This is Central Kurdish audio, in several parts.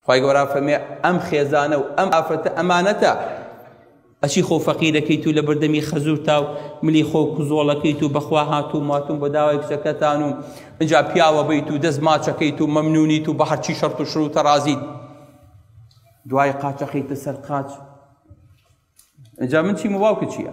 خوای گەورە فەرمێ ئەم خێزانە و ئەم ئافرەتە ئەمانەتە ئەچی خۆ فەقیرەکەیت و لە بەردەمی خەزور تا و ملی خۆ کوزۆڵەکەیت و بەخوا هاتوو ماتون بە داوای کچەکەتان و ئەجا پیاوە بیت و دەست ماچەکەیت و مەمنونیت و بە هەرچی شەرت و شروتە رازیت دوای قاچەخیتە سەر قاچ ئەجا من چی مواوکە چییە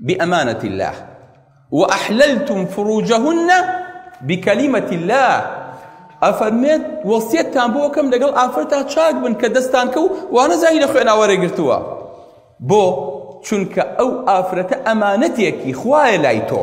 بأمانة الله وأحللتم فروجهن بكلمة الله ئەفەرمێت وەسیەتتان بۆ کەم لەگەڵ ئافرەتا چاک بن کە دەستان کە و وانە زانی لە خوێناوەرە گرتووە بۆ چونکە ئەو ئافرەتە ئەمانەتێکی خوایە لای تۆ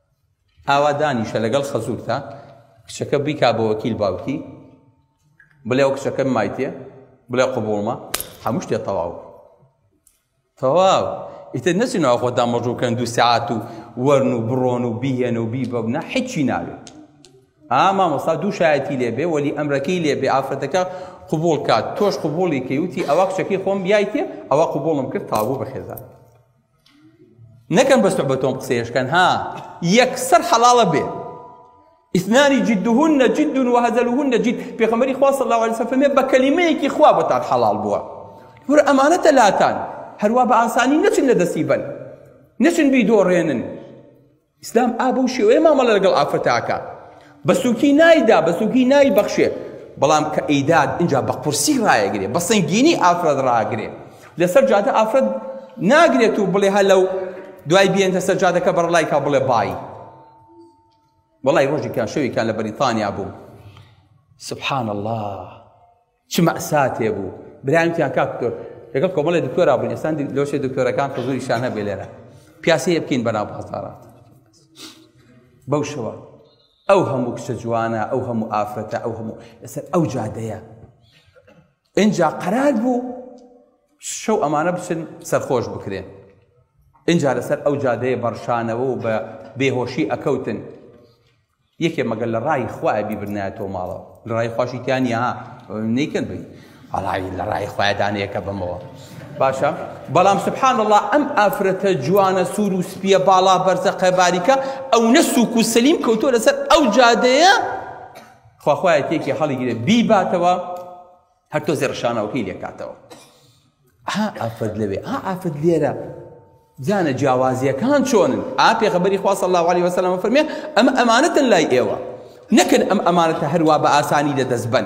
ئاوا دانیشە لەگەڵ خەزورتا کچەکە بیکا بە وەکیل باوکی بڵێ و کچەکەم مایتێ بڵێ قوبوڵمە هەموو شتێ تەواو تەواو ئیتر نەچین ئەو خۆدا مەژوکەن دوو سعات و وەرن و بڕۆن و بیهێن و بیبەبنە حیچی ناوێت ئاما مەسا دوو شایەتی لێبێ وەلی ئەمرەکەی لێبێ ئافرەتەکە قوبول کات تۆش قوبولی کەوتی ئەوە کچەکەی خۆم بیایتێ ئەوە قوبوڵم کرد تاوو بەخێزان نەکەن بەس بە تۆم قسەیشکەن ها یەکسەر حەڵاڵە بێ ئیسنانی جدهن جد وهزلهن جد پێخەمەری خوا صلی الله عليه وسلم بە کەلیمەیەکی خوا بۆتان حەڵاڵ بووە ور ئەمانەتە لاتان هەروە بە ئاسانی نەچن لە دەستی بەن نەچن بیدۆڕێنن ئیسلام ئا بەو شێوەیە مامەڵە لەگەڵ ئافرەتە ئەکا بە سووکی نایدا بە سووکی نای بەخشێ بەڵام کە ئیداد اینجا بە قورسی ڕایەگرێ بە سنگینی ئافرەت ڕاگرێ لەسەر جادە ئافرەت ناگرێت و بڵێ هە لەو دوای بێنتە سەر جادەکە بەڕلایکا بڵێ بای وڵی ڕۆژێکیان شەوێکیان لە بەریتانیا بوو سبحان الله چ مەئساتێ بوو برایم کیان کاک دکتۆر لەگەڵ کۆمەڵی دکتۆرا بووین ئێستا لۆشێ دکتۆرەکان حزوریشان هەبێ لێرە پیاسەیە بکەین بەناو بازارات بەو شەوە ئەو هەموو کچە جوانە ئەو هەموو ئافرەتە ئەو هەموو لەسەر ئەو جادەیە اینجا قەرار بوو شەو ئەمانە بچن سەرخۆش بکرێن اینجا لەسەر ئەو جادەیە بەڕشانەوە و بە بێهۆشی ئەکەوتن یەکێ مەگەر لە ڕای خوایە بیبرنایەتەوە ماڵەوە لە ڕای خواشی تیا نیە ها نەیکەن بی هەڵای لە ڕای خوایە دانەیەکە بەمەوە باشە بەڵام سبحان الله ئەم ئافرەتە جوانە سوور و سپیە باڵا بەرزە قەباریکە ئەو نە سوک و سەلیم کەوتۆ لەسەر ئەو جادەیە خواخوایە تێکی هەڵیگرێ بیباتەوە هەر تۆزێ ڕشانەوەکەی لێکاتەوە ها ئافرەت لەوێ ها ئافرەت لێرە جانە جیاوازیەکان چۆنن ئا پێغەبەری خوا صلی الله علیه وسلم فەرمێ ئەمە ئەمانەتن لای ئێوە نەکەن ئەم ئەمانەتە هەروا بە ئاسانی لە دەست بن